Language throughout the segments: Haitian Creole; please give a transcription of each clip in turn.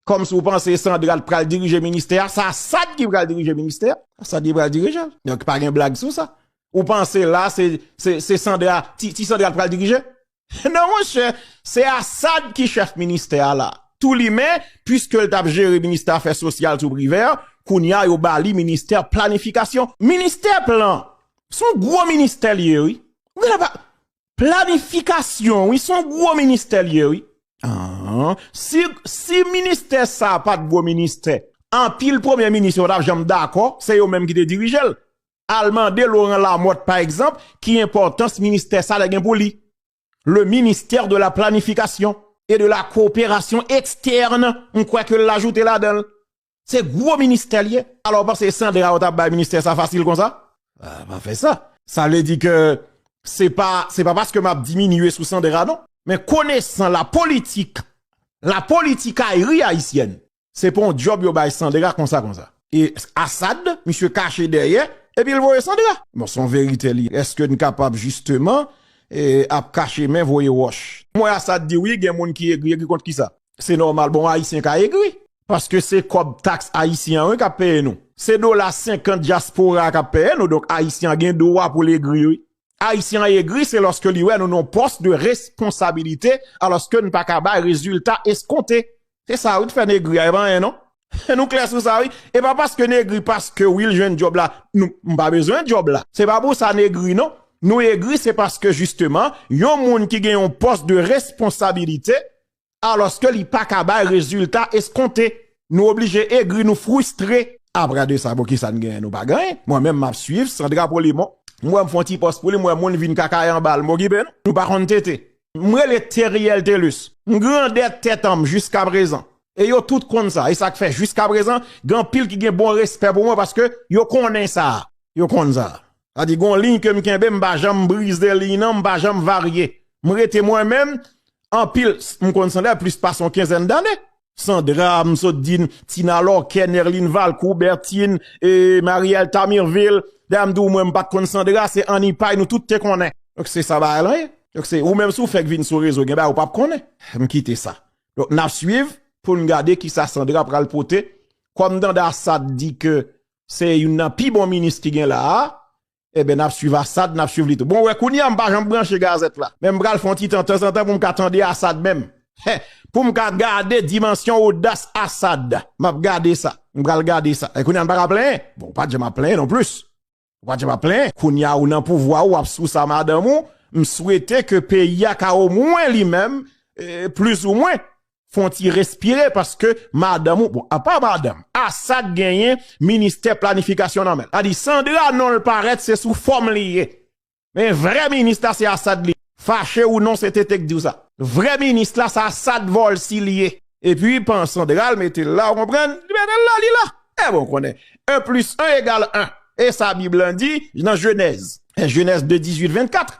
Kòm si ou panse Sandra t pral dirije ministè a, sa Assad ki pral dirije ministè a, Assad ki pral dirije l. Donk pa gen blag sou sa. Ou panse la se se Sandra, ti Sandra t pral dirije? Non monchè, se Assad ki chèf ministè a la. Tou limen, puiske l t ap jere ministè afè sosyal sou Privert, kounye a yo ba li ministè planifikasyon. Ministè plan, s on gwo ministè l ye wi. Planifikasyon wi son gwo ministè li ye wi. Ahh si ministè sa pat gwo ministè anpil premye minis yo patap janm dakò se yo menm ki te dirijel al mande Laurent Lamothe pa egzanp ki enpòtans ministè sa te gen pou li le ministère de la planification et de la coopération externe m kwè ke l ajoute ladanl Se gwo ministè li ye. Alò ou panse Sandra yo ta bay ministè sa fasil konsa? Ah pa fè sa. Sa vle di ke se pa se pa paske map diminye sou Sandra non. Men konesan la politik la politikayri ayisyèn se pa yon djòb yo bay Sandra konsa konsa. E Assad misye kache dèyè epi l voye Sandra. Bon son verite li ye. Eske n kapab jisteman ap kache men voye wòch. Mwen Assad di wi gen moun ki egri egri kont kisa? Se nòmal bon ayisyen ka egri. Paske se kòb taks ayisyen an wi kap peye nou. Se dola 50 dyaspora a kap peye nou donk ayisyen an gen dwa pou l egri wi. Ayisyen an egri se lòske li wè nou nan pòs de responsabilite alòske n pa ka bay rezilta eskonte. Se sa wi k fè n egri a e pa anyen non. Nou klè sou sa wi. E pa paske n egri paske Will jwenn djòb la nou pa bezwen djòb la. Se pa pou sa n egri non. Nou egri se paske jisteman yon moun ki gen yon pòs de responsabilite alòske li pa ka bay rezilta eskonte, nou oblije egri, nou fristre. Apre de sa bon kisa n genyen nou pa gen anyen, mwen menm map swiv Sandra Polimon, m wè m fon ti pòs pou li m wè moun vin kakaye anba l m okipe nou, nou pa konn tete. M rele Theriel Thelus, m grandè tèt an m jiskaprezan e yo tout konn sa e sak fè jiskaprezan gen anpil ki gen bon respè pou mwen paske yo konnen sa, yo konn sa. Sa di gon liy kem kenbe m pa janm brize liy nan m pa janm varye m rete mwen menm anpil m konn Sander plis pase yon kenzèn dane. Sandra m sot di n Tina Lorquet Nerline Valcourt Bertine e Marielle Tamirville dayè m di w mwen m pat konn Sandra se Annie Pay nou tout te konnen. Donk se sa bagay lan ye? Donk se ou menm si w fèk vin sou rezo gen bagay ou pap konnen? M kite sa. Donk nap swiv poun gade kisa Sandra pral pote kòm danda sa t di ke Se youn nan pi bon minis ki gen la a. Eben n ap swiv Assad, n ap swiv li tou. Bon, wè kounye a m pa janm branche gazèt la. Men m pral fè yon ti tan tanzantan pou m ka tande Assad menm. Hè! Pou m ka gade dimansyon odas Assad. M ap gade sa. M pral gade sa. E kounye a n pa ka plenyen? Bon, ou pa t janm ap plenyen non plis. Ou pa t janm ap plenyen. Kounye a ou nan pouvwa ou ap sou sa madanm ou. M swete ke peyi a ka omwen li menm, plizoumwen, Fon ti respire paske madanm ou bon apa madanm Assad genyen ministè planifikasyon nan menl tadi Sandra nonl parèt se sou fòm li ye men vrè minis la se Assad li ye fache ou non se TT k diw sa vrè minis la se Assad Volcy li ye epi pan Sandra l metel la ou konprann li metel la li la ebyen ou konnen 1 plis 1 egal 1 esa bib lan di nan jenèz jenèz 2 18 24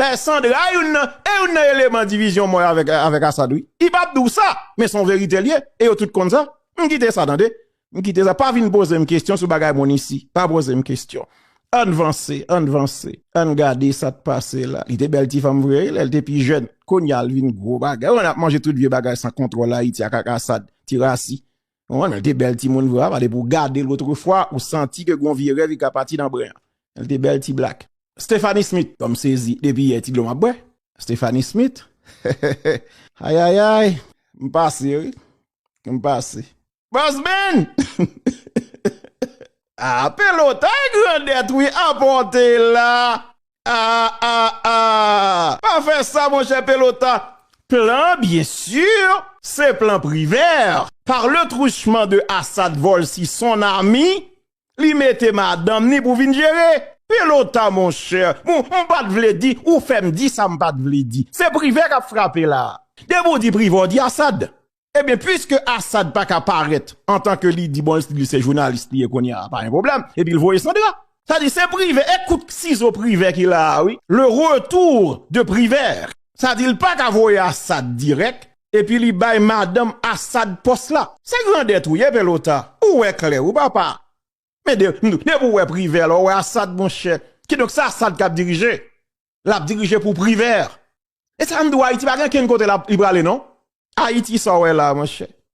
Dayè Sandra youn nan e youn nan eleman divizyon mwen avèk Asad wi. Li pap di w sa, men son verite l ye e yo tout konn sa. M kite sa tande. M kite sa. Pa vin poze m kesyon sou bagay moun isi. Pa poze m kesyon. Ann vanse, ann vanse. Ann gade sa k pase la. Li te bèl ti fanm vre wi lè l te pi jèn. Kounya l vin gwo bagay. Ou konn ap manje tout vye bagay san kontwòl Ayiti ak ak Asad. Ti rasi. Wan el te bel ti moun vre apa depi w gade l otre fwa ou santi ke gon vye rev ki ka pati nan bren an. El te bel ti black. Stephanie Smith bon m sezi depi yè ti dlo map bwè Stephanie Smith heheheh ayayay m pase wi m pase. Boss Ben! Ahh pelota grandèt wi apòte la! Ah ah ah pa fè sa monchè pelota plan bien sûr se plan privert par le truchement de Assad Volcy son ami li mete madanm ni pou vin jere pelota monchè m pat vle di ou fèm di sa m pat vle di se privè kap frape la depi w di privè w di Assad Ebyen pwiske Assad pa ka parèt antan ke li di bon li se jounalis li ye kounye a pa gen pwoblèm epi l voye Sandra. Sa di se Privè e kout sizo Privè ki la a wi, le retour de Privert. Sa di l pa ka voye Assad dirèk epi li bay madanm Assad pòs la. Se grandèt ou ye Pelota, ou wè klè wi papa. Men depi w wè Privè la ou wè Assad monchè. Kidonk se Assad k ap dirije. lap dirije pou privert. E sa m di w ayiti pa gen kenn kote li prale non. Ayiti sa w wè la monchè.